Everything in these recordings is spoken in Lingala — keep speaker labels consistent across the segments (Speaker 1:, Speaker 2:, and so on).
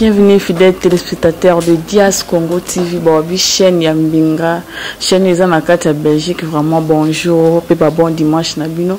Speaker 1: Bienvenue fidèle téléspectateur de Dias Congo TV Borobi chaîne ya Mbinga chaîne eza na kati ya Belgique vraiment bonjour pe ba bon dimanche na bino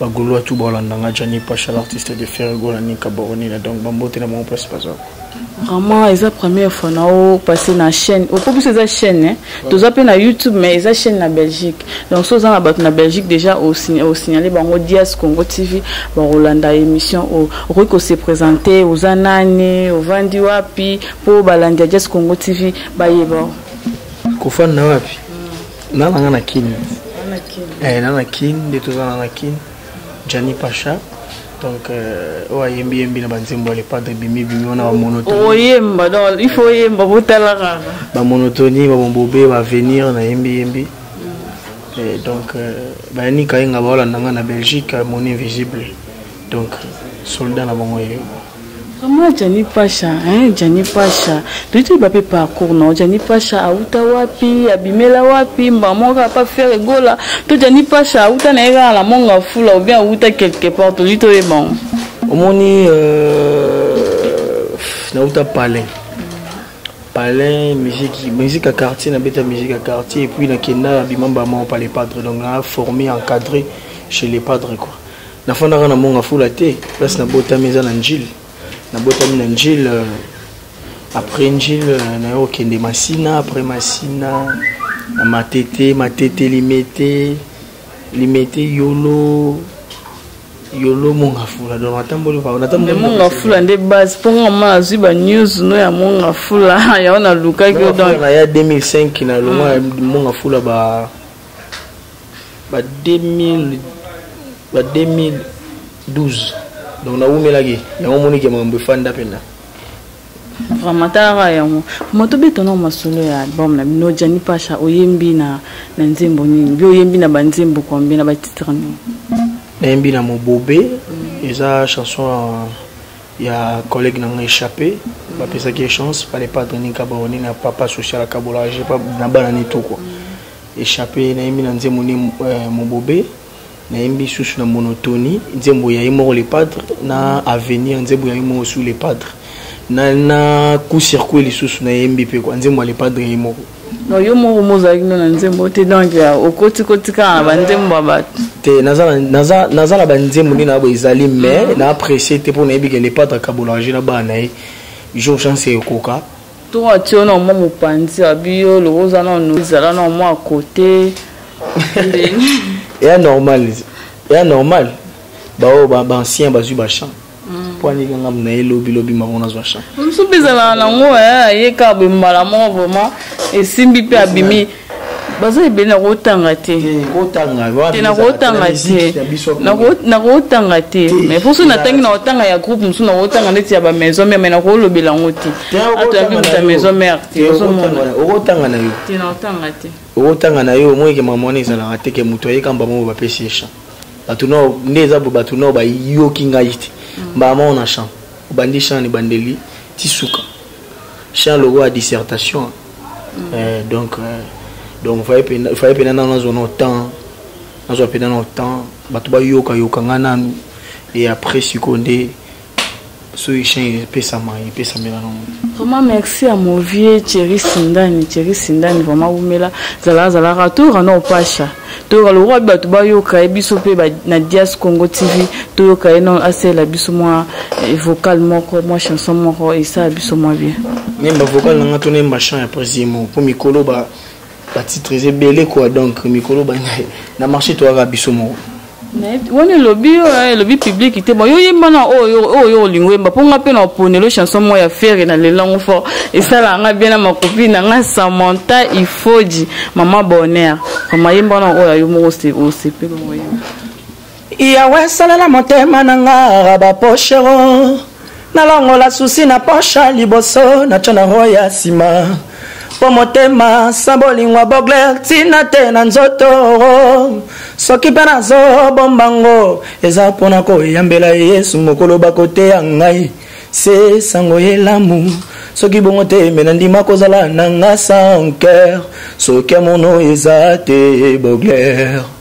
Speaker 2: ba golois tout baolanda nga jani pasha l'artiste de ferre gola nika boronina donc bambote na bango place baza vraiment eza
Speaker 1: première fois na o passe na chaîne opo biso eza chaîne hein? toza mpe na youtube mais eza chaîne na belgique donc so oza na bato na belgique déjà osignale bango dias congo tv bakolanda émission oyo okoki kose présente oza nani ovandi wapi mpo balandi ya dias congo tv bayeba kofanda
Speaker 2: wapi na nanga na kin eh, na na kin nde toza na na kin jani pacha donc euh, oyo ayembi yembi na banzembo ya lepadre bimi bimi wana bamonotoyemba donc il faut
Speaker 1: oyemba botala kaka bamonotoni
Speaker 2: bamombobe baavenir nayembi yembi Et donc, euh, bayani kayenga baolanda nga na belgique mon invisible donc soldat na bango ye Vraiment Jani
Speaker 1: Pasha, hein, Jani Pasha. Tu dis bape parcours non, Jani Pasha auta wapi, abimela wapi, maman ka pas faire gola. Tu Jani Pasha auta na era la monga fula ou bien auta quelque part, tu dis toi bon. Omoni
Speaker 2: euh na auta palais. Palais, musique, musique à quartier, na beta musique à quartier et puis na kenda abimamba maman par les padres donc na formé encadré chez les padres quoi. nafandaka na monga fula te place nabotami eza na njile nabotami na njile euh, après njile euh, nayo kokende masina après masina na matete matete limete limete yolo yolo monga fula donc natamboli monga fula
Speaker 1: nde base mpo nga ma azwi banews no ya monga fula yango nalukaki yo donc na ya
Speaker 2: 2005 na longa monga fula ba ba 2000 ba 2012 donc nawumelaki yango omoni ke makambo efanda mpenza
Speaker 1: vraiment talaka yango vraiment tobetana o masolo ya album na bino jani pasha oyembi na na nzembo nini bi oyembi na banzembo combien na batitre nini nayembi
Speaker 2: na mobobe mm. eza chanson ya collègue na ngai échappé bapesaki ye chance fallait pas donner kabaone na papa social akabola na bana ne to quoi mm. echappe nayembi na nzembo nde euh, mobobe nayembi susu na monotonie nzembo ya ye moko le padre na avenir nzembo ya ye moko su le padre na, na coup circuit lisusu nayembi mpe kwa nzembo ya le padre ya ye moko no yo moko
Speaker 1: mozalaki no na nzembo te donc okoti koti kaka na banzembo ya bato te
Speaker 2: naza na banzembo nde na bo ezali mais mm. na apprécie te mpo nayebi ke le padre akabolaka je na bana na ye jour chance ekoka Tour a tio
Speaker 1: na mwa mopanzi ya biyo loko oza na no zala na mwa à côté.
Speaker 2: Ya normal. Ya normal. Ba o ba ancien ba zu ba champ. Mm. Pwa ni kanga mna elobi lobi mango na zwa champ. Msubi zala na
Speaker 1: ngo eh ye ka be mbala mo vraiment esimbi pe abimi. baza ebele nakotanga te nakotanga te mais mposo natangi nakotanga ya groupe mosusu nakotanga ndeti ya bamaison mare mai nakolobela yango te atoyabibuta maison mare te okotanga
Speaker 2: na yo te nakotanga te
Speaker 1: okotanga na yo omoyeke
Speaker 2: mama wana ezalaka te ke moto ayekamba moko bapesi ye champ bato nao nde eza bo bato nao bayoki ngai te mbala moko na champ obandi champ na ebandeli tisuka chien lokola dissertation mm. eh, donc eh, donc faye mpena nano nazwa na temps nazwa mpena na temps bato bayokayoka ngai nanu e après sikoyo nde soki chien epesama epesamela na moto vraiment merci ya
Speaker 1: movie cheri sindani cheri sindani vraiment wumela zalaka zalaka tour na opasha toyoka lokola mpe bato bayoka ye biso mpe na dias congo tv toyoka ye non asalela biso mwa eh, vocal moko mwa chanson moko esala biso mwa bien nemba vocal na
Speaker 2: nga to nemba chant ya presimo mpo mikolo batitres ebele kua donc mikolo na marché toyaka biso moko wana
Speaker 1: elobi yo eh, elobi publiki te bon yo yemba na oyo oyo olingi oyemba mpo nga mpe na oponelo chanson moko ya fere na lelango fort esalaka nga bien na makopi na nga samanta ifoji mama bonheur mama yemba na oyo yo moko osepeli oyemba
Speaker 3: yawe asalela motema na nga baposhero nalongola susi na posha liboso na tya na ro ya nsima mpo motema sa bolingwa bogler ntina te na nzoto soki mpe nazobomba ngo eza mpo na koyambela yesu mokolo bakoteya ngai se sango elamu soki bongo te me nandima kozala na nga sans cœur soki amono eza te bogler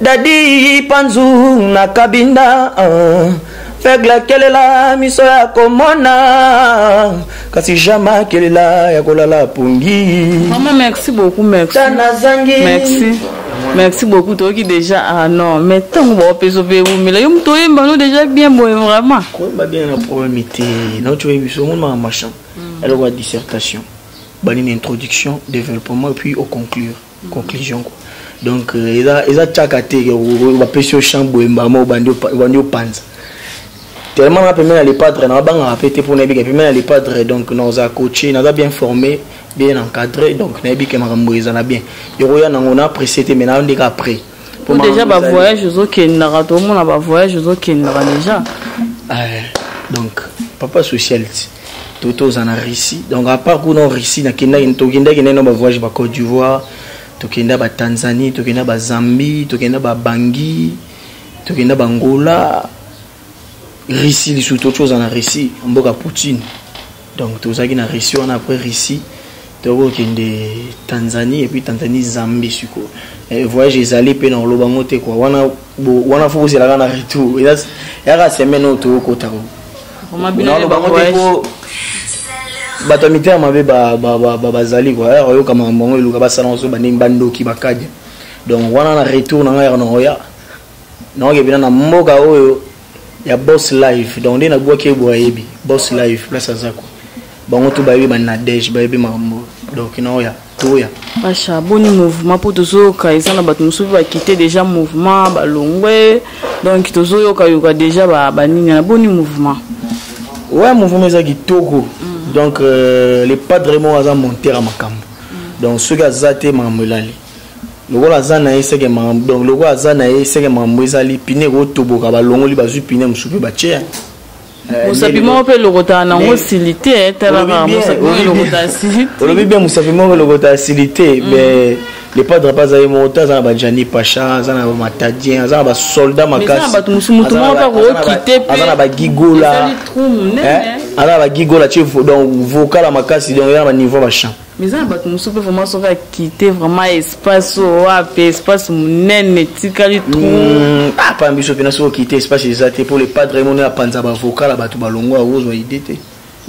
Speaker 3: Daddy Panzu na Kabinda uh. faible akelela miso ya komona kasi jama akelela ya kolala pongi mama merci beaucoup
Speaker 1: merci nazangi merci merci beaucoup toyoki déjà ah non mais ntango baopesa mpe ewumela yo moto oyemba no déjà bien boye vraiment koyemba bien na
Speaker 2: problème te noti oyebi so omona machin eloko ya dissertation banini introduction développement et puis au conclure conclusion quoi donc euh, eza eza tchaka te ba pesi champ boemba mo bandi bandi opanza tellement na pemela le padre na banga pe te pona bika pemela le padre donc na za coaché na za bien formé bien encadré donc na bika makambo ezala bien yoko ya nango na apprécié te mais na ndeka après po deja ba
Speaker 1: voyage ozokendaka tomona ba voyage ozokendaka deja eh,
Speaker 2: donc papa socialite to toza na russie donc apart kuna russie nakendaki tokendaki naino ba voyage ba côte d'ivoire tokenda ba tanzanie tokenda ba zambie tokenda ba bangi tokenda ba ngola russie lisusu tocoza na russie mboka poutine donc tozalaki na russie wana après russie tokokende tanzanie epuis tanzanie zambie sikoyo eh, voyage ezali mpe na koloba yango te kua wana wana fo kozelaka na retour yaka semaine oyo tokokota naloba
Speaker 1: yango te
Speaker 2: po bato ya mitema mabe bazali kua yaka oyoka makambo yango eluka basala yango so bandenge bandoki bakadi donc wana na retour na ngai yaka na oya naoke bina na mboka oyo ya boss live donc nde nabwaki ye boye ayebi boss live place aza ko bango tu bayebi banadege bayebi makambo donc naoya toya basha boni
Speaker 1: mouvement mpo tozoyoka eza na bato mosusu bakite déjà mouvement balongwe donc tozoyoka yoka déjà banini na boni mouvement ouais
Speaker 2: mouvement eza kitoko mm. donc euh, le padre moko aza montere ya makambo mm. donc soki aza te makambo elali lokola aza na ye seke makambo donc lokola aza na ye seke makambo ezali pine ekotoboka balongoli bazwi pine mosusu mpe batye yango eh, mosapi
Speaker 1: moko mpe elokotaka nango sili te eh, talaka mosapi moko elokota asili te olobi bien
Speaker 2: mosapi moko elokota asili te mm. mais le padre mpe azali moko te aza na bajani pacha aza na bamatadien aza na basolda makasibato mosusu motu moko
Speaker 1: mpe akokite mpe aza na bagigola
Speaker 2: eh, aza na bagigola tie donc vokala makasi donc eza na baniveau ya bachamp Mais eza na bato mosusu mpe
Speaker 1: vraiment soki akite vraiment espace oyo wape espace monene etikali trou hmm, apa ah,
Speaker 2: biso mpena soki okite espace eza te mpo le padre ye moni apanza bavoka na bato balongo yango ozwa ide te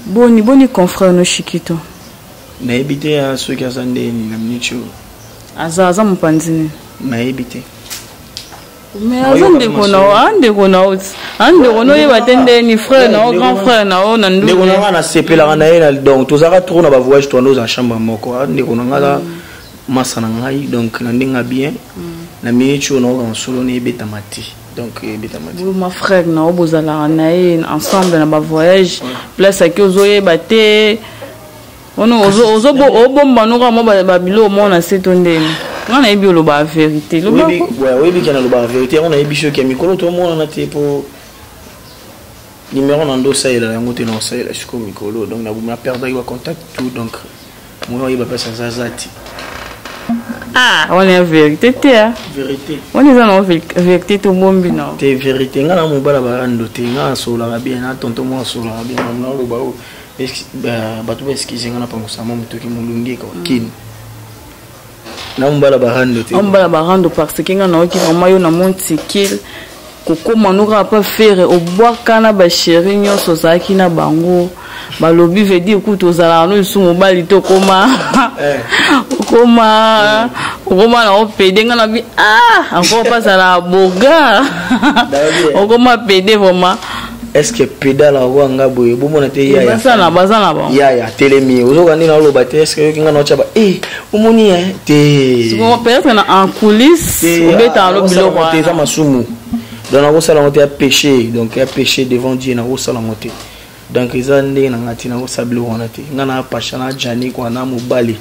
Speaker 2: boni boni
Speaker 1: confrère no shikito nayebi
Speaker 2: te ah, soki aza ndeni na minute oyo aza aza
Speaker 1: mopanzi nini nayebi te mais aza ndeko na yo a ndeko na yo a ndeko na oyeba te nde ni frère na yo grand frère na yo na ndu ndeko na nga nasepelaka
Speaker 2: na ye na donc tozalaka trop na bavoyage toanda oza chambre moko a ndeko na nga aza masa na ngai donc na ndenge ya bien na minute oyo naoka mosolo na ebetama te donc ebetama te ma frère na yo
Speaker 1: bozalaka na ye ensemble na bavoyage place ake ozoyeba te ono ozo ozo obomba noko amo ba biloko moko na se to ndeni nga nayebi olobaka verité oyebi ke
Speaker 2: nalobaka verité yango nayebi soki ya mikolo tomonana te mpo numéro na ndo osalela yango te na osalela sikoyo mikolo donc naboma perdaki bacontact tout donc moya oyeba mpasi aza aza te
Speaker 1: ah wana ya verité te a verité
Speaker 2: wana eza nango
Speaker 1: verité tobombi na te verité ngai na
Speaker 2: mobala barando te ngai asololaka bien na tonto moko asololaka bien naoloba oyo bato ba excuse nga na pangusa mwa motoki molunge kwa mm. kin naombala barando te naombala
Speaker 1: barando parce que nga naoki vraiment yo na mon tikil kokoma noka pa fere obwaka na basheri nyonso ozalaki na bango balobi veut dire kutu ozalaka no lisusu mobali te okoma eh. okoma okoma na opede nga nabi ah encore mpazalaka boga okoma pede vraiment est-ce que
Speaker 2: pedala wa nga boye bo mona te ya ya baza na baza na ba
Speaker 1: ya ya telemi
Speaker 2: ozo ka nina loba te est-ce que kinga na chaba eh o moni ya te siko peut-être na
Speaker 1: en coulisses o beta lo bilo ba te za masumu
Speaker 2: donc na ko sala ngote ya péché donc ya péché devant Dieu na ko sala ngote donc eza ndenge na ngati na ko sala bilo wana te nga na pasha na jani kwa na mobali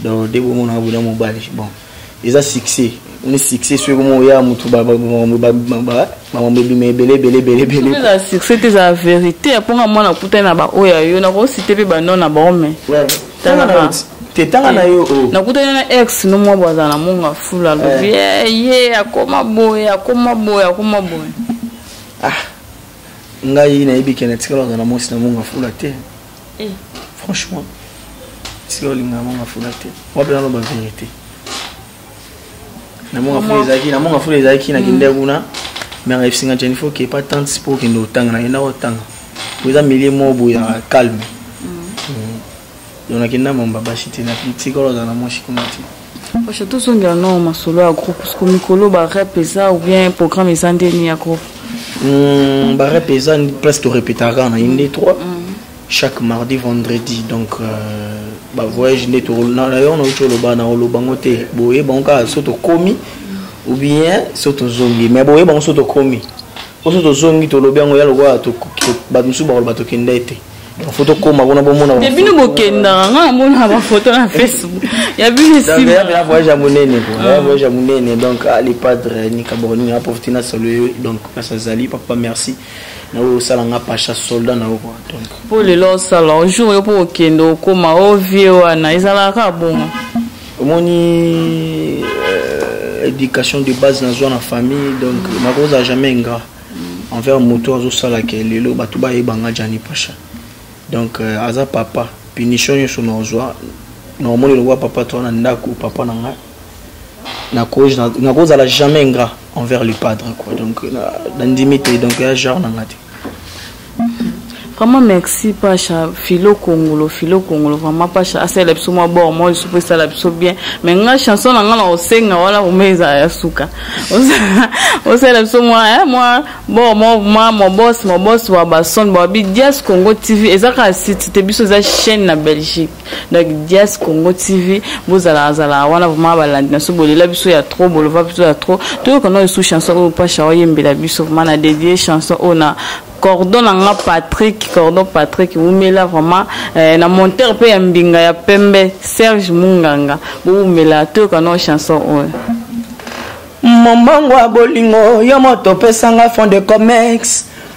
Speaker 2: donc debo mona boda mobali bon eza succès ni succès soki komo oya motu bamambo ebima ebele ebele ebele ebele eza succès te
Speaker 1: eza vérité ya mponga mwana akutani na baoyo ya yo nakosite mpe banon na bango me
Speaker 2: te tanga na yo oh. nakutani na ex
Speaker 1: no mwa bo azala na monga fula alobi eh. eh, ye akoma boye akoma boye akoma boye
Speaker 2: ah ngai nayebi ke natikala azala na mwasi na monga fula te eh. franchement sika olingaka manga fula te wapi naloba verité na manga fula ezalaki na manga fula ezalaki na kende kuna mais ayebisi nga jani fo kepa tante mpo okende otanga nakenda kotanga po eza milieu moko boye ya calme donc nakenda mamba basi te natikala ozala na mwasi kuna te Pasha tozongela
Speaker 1: nao masolo ya groupe parce que mikolo ba rep eza ou bien programme eza nde ni ya groupe mm,
Speaker 2: ba rep eza place to répétaka na inde 3 mm. chaque mardi vendredi donc euh, ba voyage nde tolona yo na uti oloba na oloba ngo te boye bango kaka so tokomi ou bien so tozongi mais boye bango so tokomi oso tozongi tolobi yango ya lokola bato mosusu bakoloba tokenda ete foto koma kuna bomona ya bino bokendaka
Speaker 1: nga namona bafoto na facebook ya bino esimaya voyage ya monene
Speaker 2: ya ah. voyage ya monene donc ah, le padre nikaboroni aprofite na solo yo donc place azali papa merci naoyo osala nga pacha soldat na yo kua donc mpo lelo osala
Speaker 1: ojour yo mpo okende okoma o vie wana ezalaka kaka bongo omoni
Speaker 2: euh, éducation de base nazwa na famille donc nakozala jamais ingrat envers moto azosala ke lelo bato bayeba nga jani pacha donc euh, aza papa punition nyonso naozwa naomoni lokola papa toa na ndako papa na ngai nakozala jamais ingrat envers le padre quoi donc nandimi te donc ya genre na ngai te
Speaker 1: Vraiment merci Pacha Philo Kongolo Philo Kongolo vraiment Pacha asala biso mwa bord moi lisusu mpe esala biso bien mais nga chanson na nga na osenga wana vraimen ezala ya suka osala biso mwa eh, mwa bord mwa mwa mobos mobos wa bason babi dias Congo TV eza kaka site te biso eza chaîne na Belgique donc dias congo tv bozalaka zalaka wana vraimen balandi na biso bolela biso ya trop bolova biso ya trop toyoka nao esu chanson oyo pasha oyembela biso vraimen na dedie chanson oyo na cordon na nga patrick cordon patrick wumela vraiment eh, na monteur mpe ya mbinga ya pembe serge munganga bowumela toyoka nao chanson oyo momango
Speaker 3: ya bolingo yo moto opesanga fond de comexe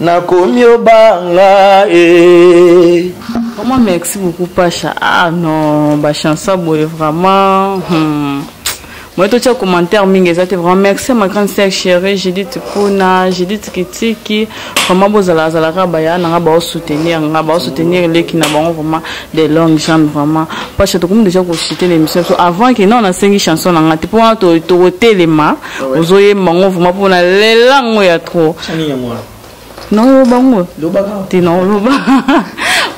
Speaker 3: nakomi obanga e
Speaker 1: vraiment merci beaucoup pasha ah non bachanse boye vraiment hmm. moye totya commentaire mingi eza te vraiment merci ma grande sœur chérie judith puna judith kitiki vraiment bozala azalaka baya na nga baosoutenir nga baosoutenir eleki na bango vraiment de longue jambe vraiment parce que tokomi déjà kochite l'émission biso avant ke non nasengi chanson na nga te mpo wana tokotelema ah ozoyemba ngo vraimen mpo na lela ngo ya trop naoloba ngo te naoloba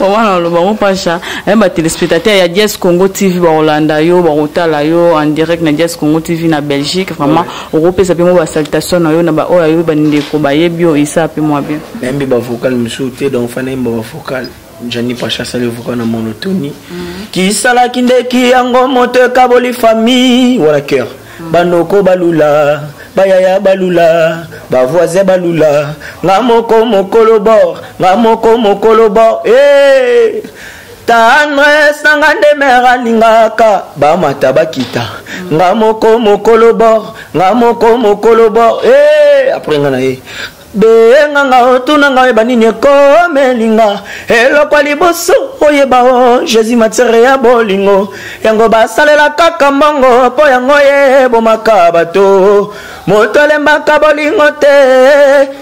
Speaker 1: mama naoloba ngo pasha eh, batelespectateur ya dies congo tv bakolanda yo bakotala yo en direct na dies congo tv na belgique vraiment okopesa mpe mwa basalitation na yo na baoyo ayo bandeko bayebi yo isa mpe mwa bien nayembi bavocal
Speaker 2: mosusu te donc fana yemba bavocal Njani Pacha asali voka na monotonie mm. kisalaki ndeki yango moto ekaboli famille wala cœur mm. banoko balula bayaya balula bavoisin balula nga moko mokolo bor nga moko mokolo bor hey! Eh! tendresse na nga nde mere alingaka bamata bakita nga moko mokolo bor nga moko mokolo bor e eh, apres nga na ye
Speaker 3: benga nga otuna nga oyeba nini ekomeli nga eloko ya liboso oyeba o oh, jésus matiere ya bolingo yango basalela kaka mbongo mpo yango yebomaka bato moto alembaka bolingo te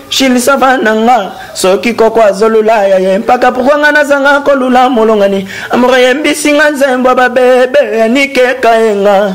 Speaker 3: shilisava na nga soki koko azolula ya ye mpaka pourkua nga nazanga kolula molongani amoro yembisi nga nzembo babebe yanikekayenga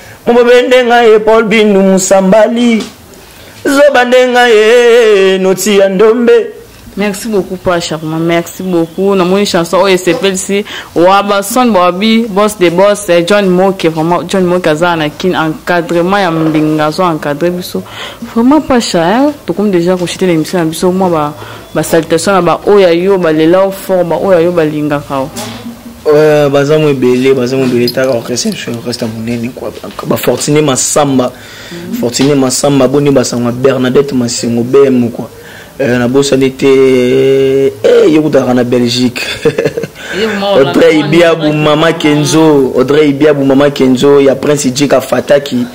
Speaker 3: mobobende nga ye paul bindu musambali zoba nde nga ye noti ya ndombe merci beaucoup
Speaker 1: pa charma merci beaucoup namoni chanson oyo esepelisi wa bason bawabi boss de boss eh, john moke vraiment john moke azala na kin encadrement ya mbinga azo encadre biso vraiment pacha eh, tokomi deja koshite na émission na biso mwa ba ba salutation na ba oyo yo balela o fort ba oyo yo balingaka o euh, baza
Speaker 3: mo ebele baza mo ebele taka reception orchestre monene kua bafortune masamba mhm. fortune masamba boni basangwa bernadette masengo bm kua Euh, nabosani te eh, eh, ye kutaka na belgique audrey ibiabu mama kenzo audrey ibiabu mama kenzo ya prince jika fataki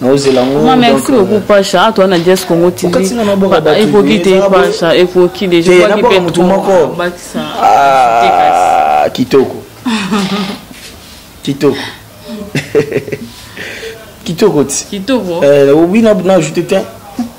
Speaker 3: naozela ngo ma merci euh, beaucoup
Speaker 1: pasha ato wana jes congo tv ekoki te pasha ekoki deja eh, kwaki pe motu moko ah, kitoko kitoko kitoko ti kitoko eh, oui na ajoute te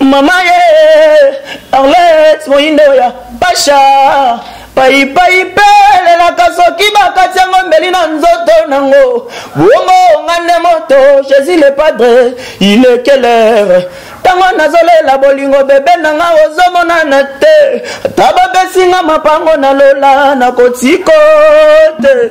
Speaker 1: Mama ye Arlette moyindo ya pasha paipai mpe elelaka soki bakati yango mbeli na nzoto nango bongo nga nde moto jésus le padre ilekelere ntango nazolela bolingo bebe na nga ozomonana te ata bapesi nga mapango na lola nakotiko te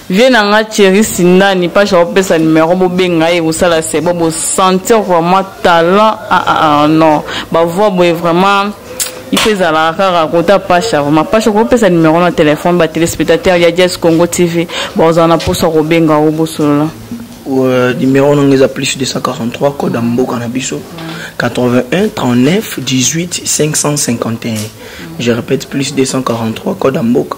Speaker 1: Vieux na nga Thierry Sindani pasha opesa numero bobenga ye kosala sebo bo sentir vraiment talent ah ah ah non ba voix boye vraiment il faut ezalaka kaka kota pasha vraimen pasha okoki opesa numero na telefone ba téléspectateur ya jes congo tv bakozala na mposo ya kobenga yango bosolola euh, numero
Speaker 3: nanga eza plus 243 code ya mboka na biso 81 39 18 551 je répète plus 243 code ya mboka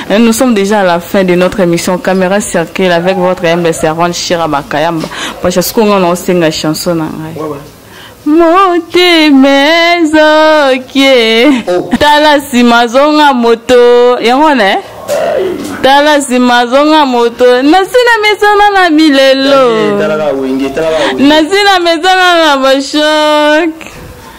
Speaker 1: Hein, nous sommes déjà à la fin de notre émission Caméra Circule avec votre humble servante Shira Bakayamba. Parce que ce qu'on a, c'est une chanson. motema ezokie oh. tala nsima azonga moto yango wana eh? tala nsima azonga moto nasi na mesana na milelo nasi na mesana na bashoke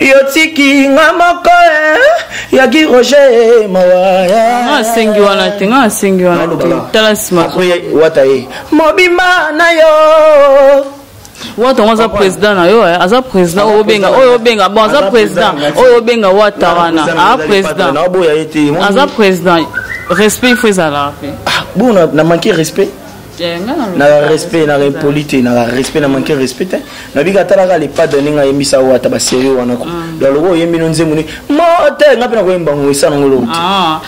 Speaker 3: yotiki nga moko eh, ya gi roger eh, mawaya nga asengi wana te
Speaker 1: nga asengi wana te tala nsima wata ye
Speaker 3: mobimba na yo wata
Speaker 1: ngo aza président na yo eh? aza président oyo obenga oyo obenga bon aza président oyo obenga wata wana a président aza président respect il faut ezalaka mpe ah, bon na
Speaker 3: manque respect Eh, na respect na impoli te na respect na manke respect te nabika atalaka lepada ndenge ayembisa oyo ata baserie wana ko mm. donc lokola oyembi no nzembo ni mote nga mpe nakoyemba ngo esana ngo lote
Speaker 1: ah,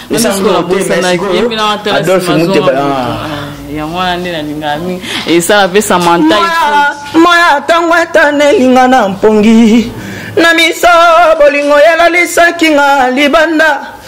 Speaker 1: adolphe muteba ah. ah,
Speaker 3: yango
Speaker 1: wana nde nalingaka mingi esala mpe samanta moya
Speaker 3: ntango etana elinga na mpongi na miso bolingo yalalisaki nga libanda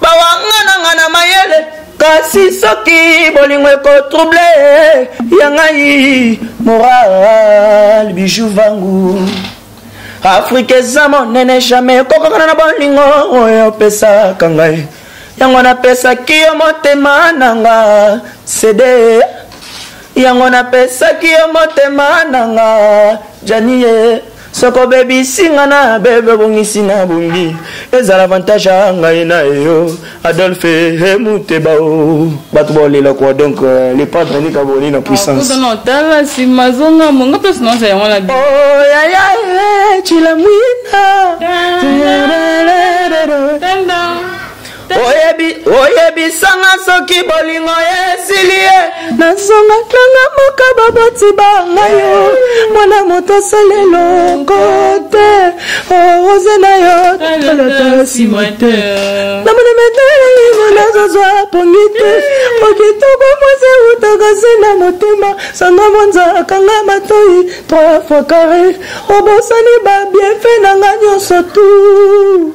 Speaker 3: bawangana nga na mayele kasi soki bolingo ekotrouble ya ngai moral bijou vangu afrika eza monene jamai ekokakana na bolingo oyo opesaka ngai yango napesaki yo motema na nga sede yango napesaki yo motema na nga janie soki obebisi nga na bebe obongisi na bongi ezala avantage ya ngai na yo adolphe hemuteba o oh. bato baolela kua donc euh, le padre nika boli na puissance tala nsima
Speaker 1: zonga monga mpe sinonsa yango na yaya
Speaker 3: cilamwina oyebi oyebisanga soki bolingo esili ye nazonga nanga moka baboti banga yo mwana moto osala eloko te orose na yo tolata nsima te namona metalimo nazozwa pongi te okitoko mwasi eutaka se na motema sanga monza akanga matoi trois fois carre obosani babienfe nanga nyonso tout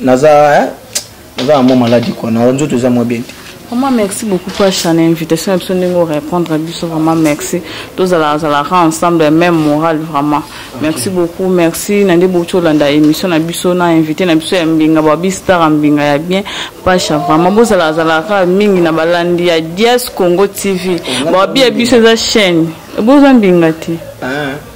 Speaker 3: naza eh, naza na mwa maladi kua na nzoto eza mwa bien te Vraiment, merci beaucoup
Speaker 1: pour chaque invitation. Et puis, nous répondre à Bissot, vraiment, merci. Tous à la, la ensemble, même morale, vraiment. Merci okay. beaucoup, merci. Nande Bocho, landa émission, na Bissot, na invité, na Bissot, mbinga, babi, star, mbinga, ya bien. Pacha, vraiment, vous à la, à la, à mingi, na balandi, ya Dias Congo TV. Babi, ya Bissot, la chaîne. Vous en bingati. Ah.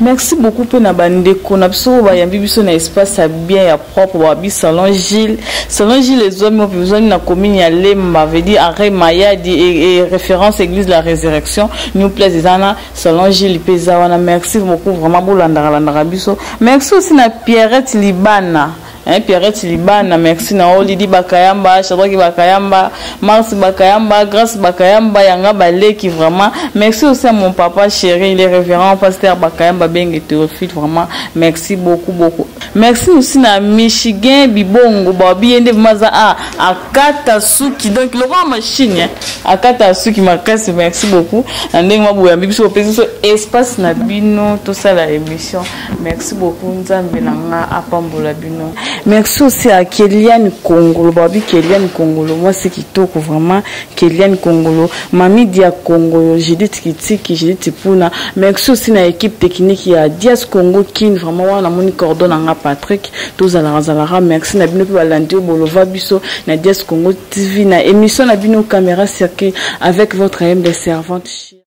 Speaker 3: Merci beaucoup pe
Speaker 1: na bandeko na biso oyo bayambi biso na espace ya bien ya propre babi salon Gilles salon Gilles ezwami opi ezwami na commune ya Lemba veut dire arrêt Mayadi et, et référence église de la résurrection new place eza na salon Gilles pe eza wana merci beaucoup vraiment bolandaka landaka biso merci aussi na Pierrette Libana Hein, Pierrette Libana, merci Nao, Lydie Bakayamba, Shadraki Bakayamba, Mars Bakayamba, Grace Bakayamba, Yanga Baleki, vraiment. Merci aussi à mon papa chéri, les révérends, pasteur Bakayamba Bengue Théophile, vraiment. Merci beaucoup, beaucoup. Merci aussi na Michigan Bibongo, Babi Yende Maza, ah, Akata Suki, donc le roi machine, hein. Akata Suki, ma casse, merci beaucoup. Nandeng Mabouya, Bibiso, Peso, espace na bino, tout ça la émission. merci beaucoup nzambe na nga apambola bino merci aussi à keliane kongolo babi keliane kongolo mwasi kitoko vraiment keliane kongolo mami dia kongolo judith kitiki judith puna merci aussi na équipe technique ya dias congo kin vraiment wana namoni cordon na nga patrick tozalaka zalaka merci na bino mpe balandi oyo bolova biso na dias congo tv na émission na bino caméra circuit avec votre humble servante